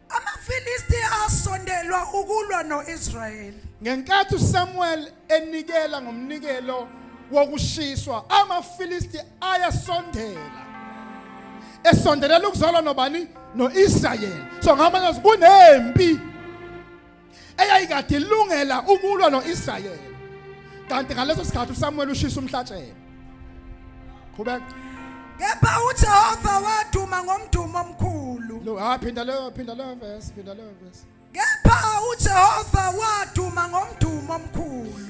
AmaFilisti asondelwa ukulwa noIsrayeli. Ngenkathi uSamuel enikela ngomnikelo wokushiswa, amaFilisti ayasondela. Esondelela ukuzalwa nobani? NoIsrayeli. So ngamanye kunempi eyayikade ilungela ukulwa noIsrayeli kanti ngaleso sikhathi uSamuel ushisa umhlatshelo qhubeka kepha uJehova waduma ngomdumo omkhulu lo ha ah, phinda leyo phinda leyo verse phinda leyo verse kepha uJehova waduma ngomdumo omkhulu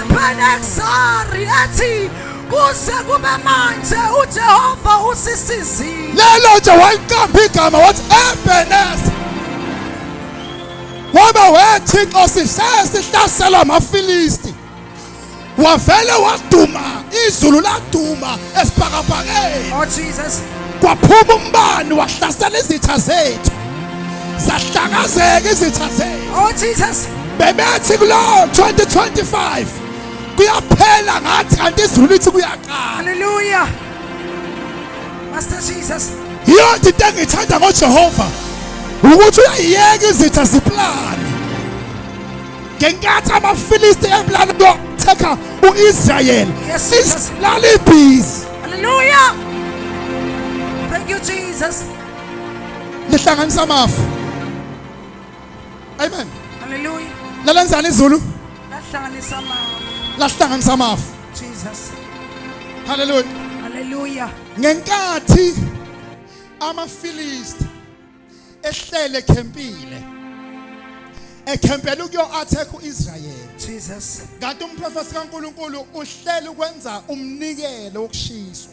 Ebeneksari ethi kuze kube manje uJehova usisizile. Lelo nje waliqamba igama wathi Ebenezer. Waba wethixo sishaye sihlasela amaFilisti. Wavele waduma izulu laduma esibhakabhakeni. Oh Jesus. Kwaphuma umbani wahlasela izitha zethu. Zahlakazeka izitha zethu. Oh Jesus. bebethi kulo 2025 kuyaphela ngathi kanti izulu lithi kuyaqala haleluya master jesus yiyona into engiyithanda ngojehova ukuthi uyayiyeka izitha ziplane ngenkathi amafilisti eplane yokuthekha u-israyeli isilala ibhizi haleluya thank you jesus lihlanganisa amafu Amen. Hallelujah. Lalenzani izulu? Lahlanganisa amafu. Lahlanganisa amafu. Jesus. Hallelujah. Hallelujah. Ngenkathi amaFilisti ehlele khempile ekhempela ukuyo attack uIsrael Jesus kanti umprofeti kaNkuluNkulu uhlela ukwenza umnikelo wokushiswa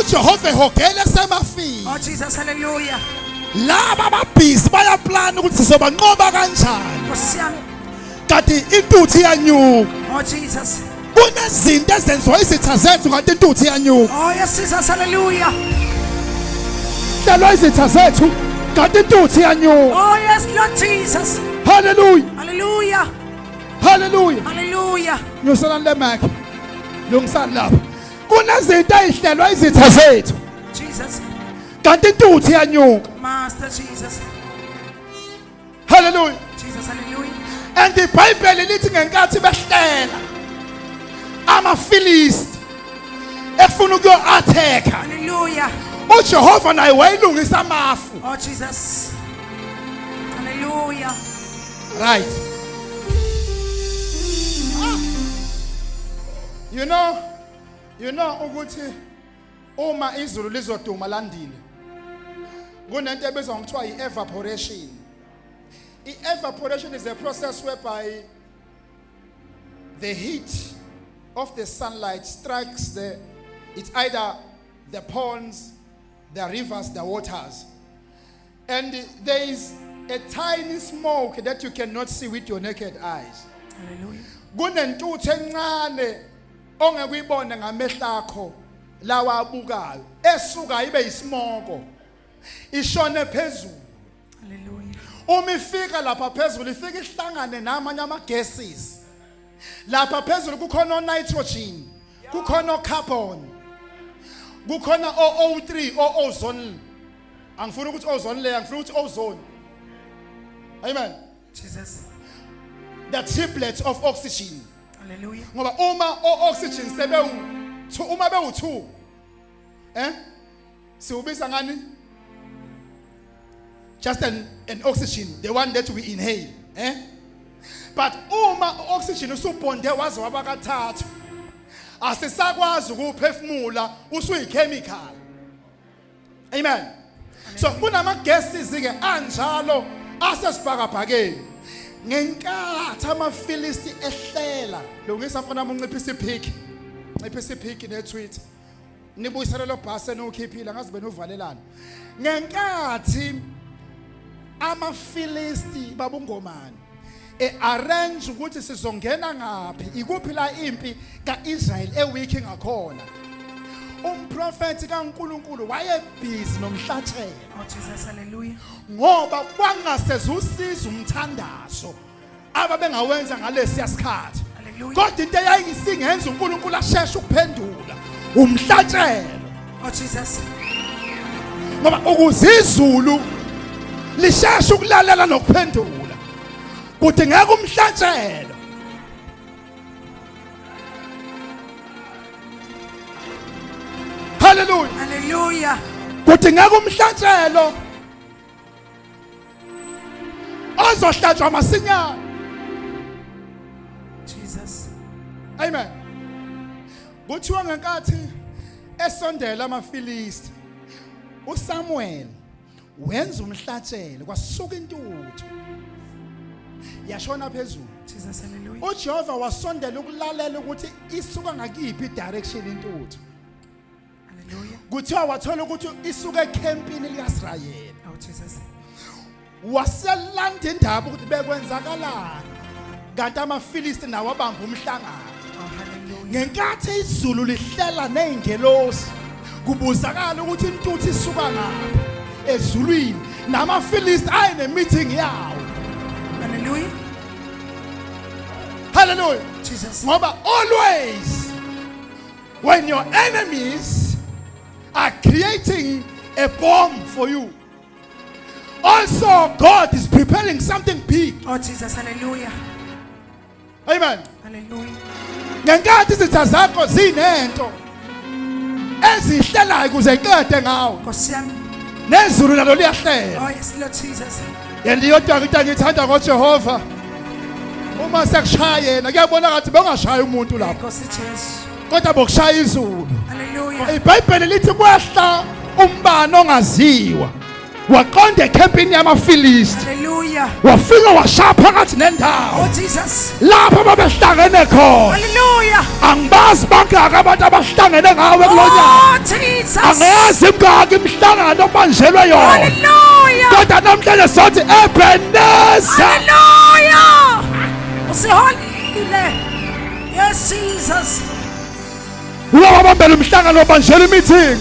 uJehova ehogele semafini oh Jesus hallelujah laba ababhizi bayaplana ukuthi sizobanqoba kanjani nkosi yami kanti intuthu iyanyuka oh Jesus kunezinto ezenziwa izitha zethu kanti intuthu iyanyuka oh yes Jesus hallelujah hlelwa izitha zethu kanti intuthu iyanyuka oh yes Lord Jesus hallelujah hallelujah Hallelujah. Hallelujah. Nyusela le mic. Lungisani lapha. Kunezinto ezihlelwa izitha zethu. Jesus. Kanti intuthu iyanyuka. Master Jesus. Hallelujah. Jesus hallelujah. And the Bible lithi ngenkathi behlela amaFilisti efuna ukuyo attack. Hallelujah. uJehova naye wayilungisa amafu oh Jesus hallelujah Right. Ah. You know, you know ukuthi uma izulu lizoduma landile kunento ebizwa ngokuthiwa i-evaporation i-evaporation is a process whereby the heat of the sunlight strikes the it's either the ponds the rivers the waters And there is a tiny smoke that you cannot see with your naked eyes. Hallelujah. Kunentuthu encane ongekuyibona ngamehlo akho lawa abukayo esuka ibe isimoko ishone phezulu. Hallelujah. Uma ifika lapha phezulu ifika ihlangane namanye ama gases. lapha phezulu kukhona onitrogen kukhona ocarbon kukhona o-o3 o-ozone angifuni ukuthi ozone leyo angifuni ukuthi ozone amen jesus the triplets of oxygen haleluya ngoba uma o-oxygen sebewu uma bewu-2 eh siwubiza ngani just an, an oxygen the one that we inhale eh but uma oxygen usubonde waze wabakathathu asisakwazi ukuphefumula usuyichemical amen so kunama gases ke anjalo asesibhakabhakeni ngenkathi amafilisti ehlela lungisa mfana unciphisa iphiki nciphisa iphiki netweet nibuyisele lo bhasi eniwukhiphile ngazi benuvalelana ngenkathi amafilisti babungomani e-arrange ukuthi sizongena ngaphi ikuphi la impi ka-israyeli ewikhi ngakhona umprofethi kaNkuluNkulu wayebhizi nomhlatshelo oh, ngoba kwangasezusizwa umthandazo ababengawenza ngalesiya sikhathi kodwa into eyayisingenza uNkulunkulu asheshe ukuphendula umhlatshelo oh Jesus ngoba ukuze izulu lisheshe ukulalela nokuphendula kuthi ngeke umhlatshelo haleluya haleluya kuthi ngeke umhlatshelo ozohlatshwa masinyane Jesus amen kuthiwa ngenkathi esondela amaFilisti uSamuel wenza umhlatshelo kwasuka intuthu yashona phezulu Jesus hallelujah uJehova wasondela ukulalela ukuthi isuka ngakiphi direction intuthu Hallelujah. kuthiwa wathola ukuthi isuka ekhempini likasirayeli Oh, Jesus. waselanda indaba ukuthi bekwenzakalani kanti amafilisti nawo abamba umhlangano Oh, hallelujah. ngenkathi izulu lihlela nezingelosi kubuzakala ukuthi intuthu isuka ngapha ezulwini namafilisti aye nemeeting yawo Hallelujah. haleluya Jesus. ngoba always When your enemies are creating a bomb for you. Also, God is preparing something big. Oh, Jesus, hallelujah. Amen. Hallelujah. ngenkathi izitha zakho zinento ezihlelayo kuze iqede ngawo nezulu nalo liyahlela oh, And iyodwa into engiyithanda ngoJehova uma sekushaya yena kuyabona ngathi bengashaya umuntu lapho Nkosi Jesu. kodwa bokushaya izulu. Hallelujah. IBhayibheli lithi kwehla umbani ongaziwa waqonda ekhempini yamaFilisti Hallelujah. wafika washaya phakathi nendawo. Oh Jesus. lapho babehlangene khona haleluya angibazi bangaka abantu abahlangene ngawe kulonyaka oh, angazi imngaki imihlangano obanjelwe yona haleluya kodwa namhlanje sothi ebeneza haleluya usiholile yes jesus Uba wabambela umhlangano wabanjela i-meeting.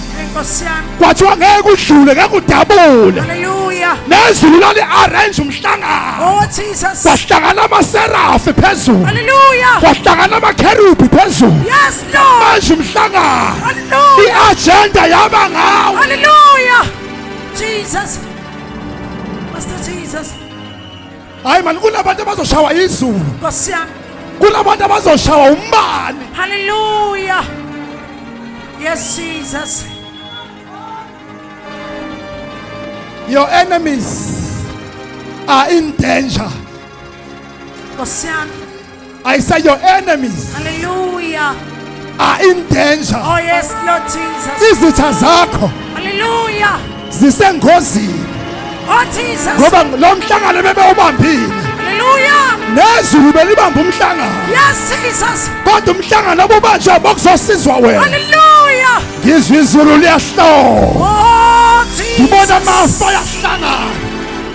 Kwathiwa ngeke udlule ngeke udabule. Hallelujah. Nezulu lali arrange umhlangano. Oh Jesus. Kwahlangana amaserafi phezulu. Hallelujah. Kwahlangana amakherubhi phezulu. Yes Lord. Manje umhlangano. Hallelujah. I-agenda yaba ngawo. Hallelujah. Jesus. Master Jesus. hayi mani kunabantu abazoshawa izulu nkosi yami kunabantu abazoshawa umbani haleluya yes jesus your enemies are in danger nkosi yami I say your enemies Hallelujah. are in danger. Oh, yes, Lord Jesus. Izitha zakho Hallelujah. zisengozini Oh, Jesus. ngoba lo mhlangano bebewubambile Hallelujah. nezulu belibamba umhlangano Yes, Jesus. kodwa umhlangano obubanjwa bokuzosizwa wena Hallelujah. ngizwa izulu liyahloma Oh, ngibona Jesus. amafu ayahlangana